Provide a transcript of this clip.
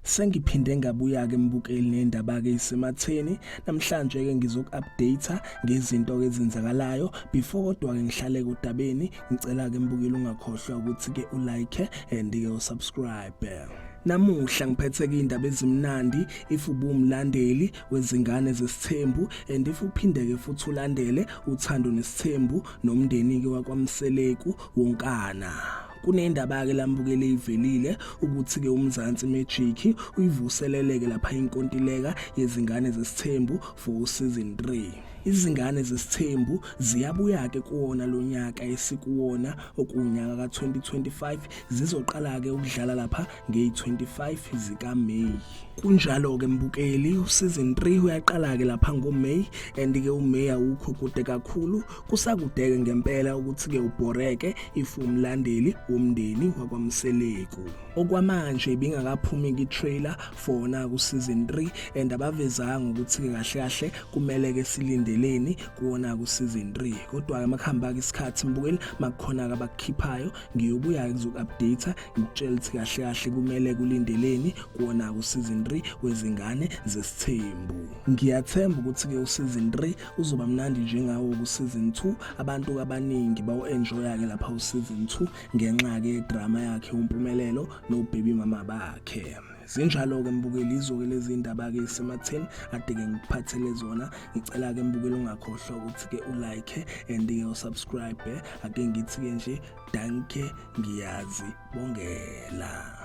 sengiphinde ngabuya-ke mbukeli nendaba-ke isematheni namhlanje-ke ngizoku-update ngezinto-ke ezenzakalayo before kodwa-ke ngihlale kodabeni ngicela-ke mbukeli ungakhohlwa ukuthi-ke ulike and-ke usubscribe namuhla ngiphethe-ke iy'ndaba ezimnandi if ubumlandeli wezingane zesithembu and if uphindeke futhi ulandele uthando nesithembu nomndeni ke wakwamseleku wonkana kunendaba ke lambukele ivelile ukuthi ke umzansi magic uyivuseleleke lapha inkontileka yezingane zesithembu for season 3 izingane zesithembu ziyabuya ke kuwona lonyaka esikuwona okunyaka ka2025 zizoqala ke ukudlala lapha ngeyi-25 zikaMeyi. Kunjalo-ke mbukeli, usizini 3 uyaqala-ke lapha ngoMeyi and-ke uMeyi awukho kude kakhulu, kusakudeke ngempela ukuthi-ke ubhoreke if umlandeli womndeni wakwaMseleku. Okwamanje ibingakaphumi ki-trailer fona kusizini 3 and abavezanga ukuthi-ke kahle kahle kumele-ke silindeleni kuwona kusizini 3 kodwa-ke makuhamba-ke isikhathi mbukeli makukhona-ke abakukhiphayo ngiyobuya ngizoku-update ngikutshela ukuthi kahle kahle kumele kulindeleni kuwona useason 3 wezingane zesithembu ngiyathemba ukuthi-ke useason 3 uzoba mnandi njengawo kuseason 2 abantu abaningi bawu-enjoya-ke lapha useason 2 ngenxa-ke yedrama yakhe umpumelelo nobaby mama bakhe Zinjalo-ke mbukeli izoke lezi ndaba-ke isematheni ade-ke ngikuphathele zona ngicela-ke mbukeli ungakhohlwa ukuthi-ke ulike and-ke usubscribe ake ngithi-ke nje danke ngiyazi bongela